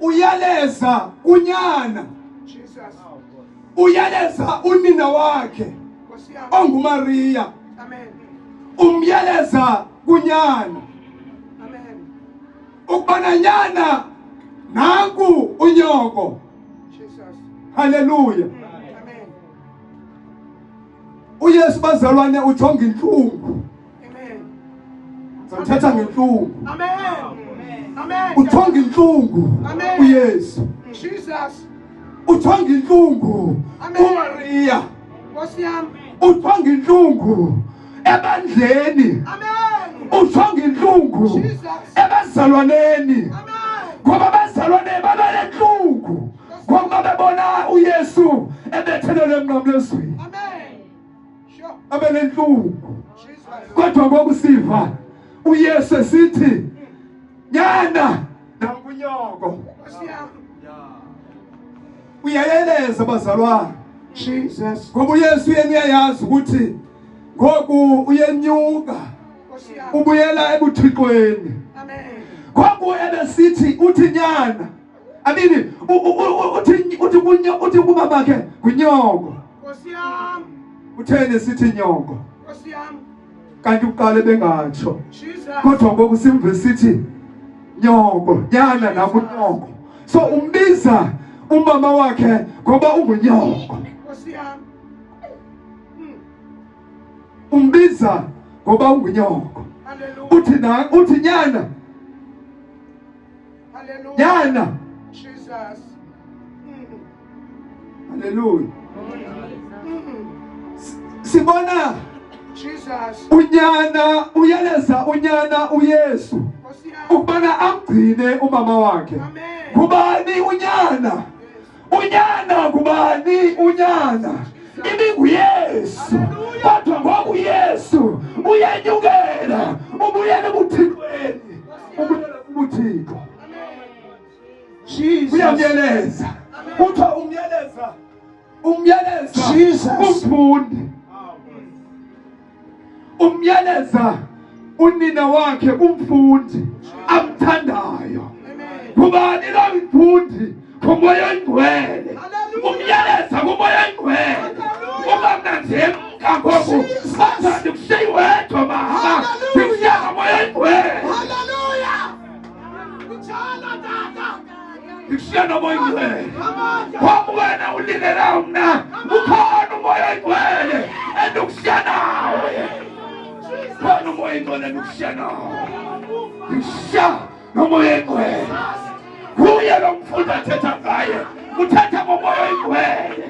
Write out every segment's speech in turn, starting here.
uyaleza unyana uyaleza unina wakhe ongumariya umyeleza kunyana ukubana nyana nanku unyoko haleluya uyesu bazalwane ujonga intlungu ngizamthetha ngentlungu uthonga intlungu uyesu uthonga intlungu umariya uthonga intlungu ebandleni uthonga intlungu ebazalwaneni ngoba abazalwane babenentlungu ngokuba bebona uyesu ebethelelwe emnqamlezweni abe nentlungu kodwa ngoku siva uyesu esithi nyana nakunyoko uyayeleza bazalwana jesus ngoba uyesu yena uyayazi ukuthi ngoku uyenyuka ubuyela ebuthixweni ngoku ebesithi uthi nyana amini U- u- u- uthi uthi kunyo uthi kumama ke ngunyoko Nkosi yam, utheni sithi nyoko Nkosi yam, kanti uqale bengatsho Jesus. kodwa ngoku simve sithi nyoko nyana nakunyoko so umbiza umama wakhe ngoba ungunyoko Nkosi yam. Mm, umbiza ngoba ungunyoko Hallelujah. uthi na uthi nyana Hallelujah. jana Jesus. Mm. haleluya Mm. sibona Jesus. unyana uyaleza unyana uyesu Nkosi yami. ukubana amgcine umama wakhe Amen. ngubani unyana unyana ngubani unyana ibinguyesu kodwa ngoku yesu uyenyukela ubuyele ebuthixweni ubuyele kubuthixo uyamyeleza kuthiwa umyeleza umyeleza umfundi umyaleza unina wakhe kumfundi amthandayo kubani la mfundi kumoya oyingcwele umyaleza kumoya oyingcwele ungamnanzemka ngoku athandi kushiyi wedwa mama ndikushiya ngomoya oyingcwele Ikishana moyo igwele. Kwa mwana ulinera mna. Ukona moyo igwele. Endukishana. Kwa moyo igwele endukishana. Isha no moyo igwele. Huya lo mfunda thetha ngaye. Uthetha ngomoyo igwele.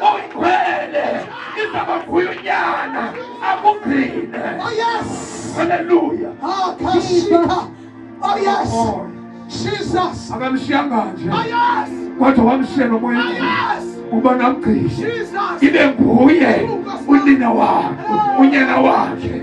oyingcwele iza kwavuya unyana akugcine Oh yes. haleluya Ah, Kashika. Oh yes. Oh, Jesus. akamshiyanga nje Oh yes. kodwa wamshiya Oh nomoya yes. uba namgcini Jesus. ibe nguye unina wakhe unyana wakhe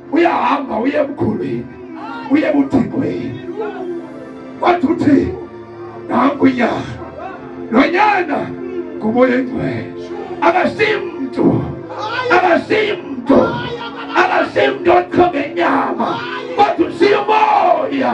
uyahamba uye ebukhulwini uye ebuthingweni wathi uthi nanku nyana lo nyana ngumoya engcwele akasimntu akasimntu akasimntu oqhonge inyama kodwa usiyomoya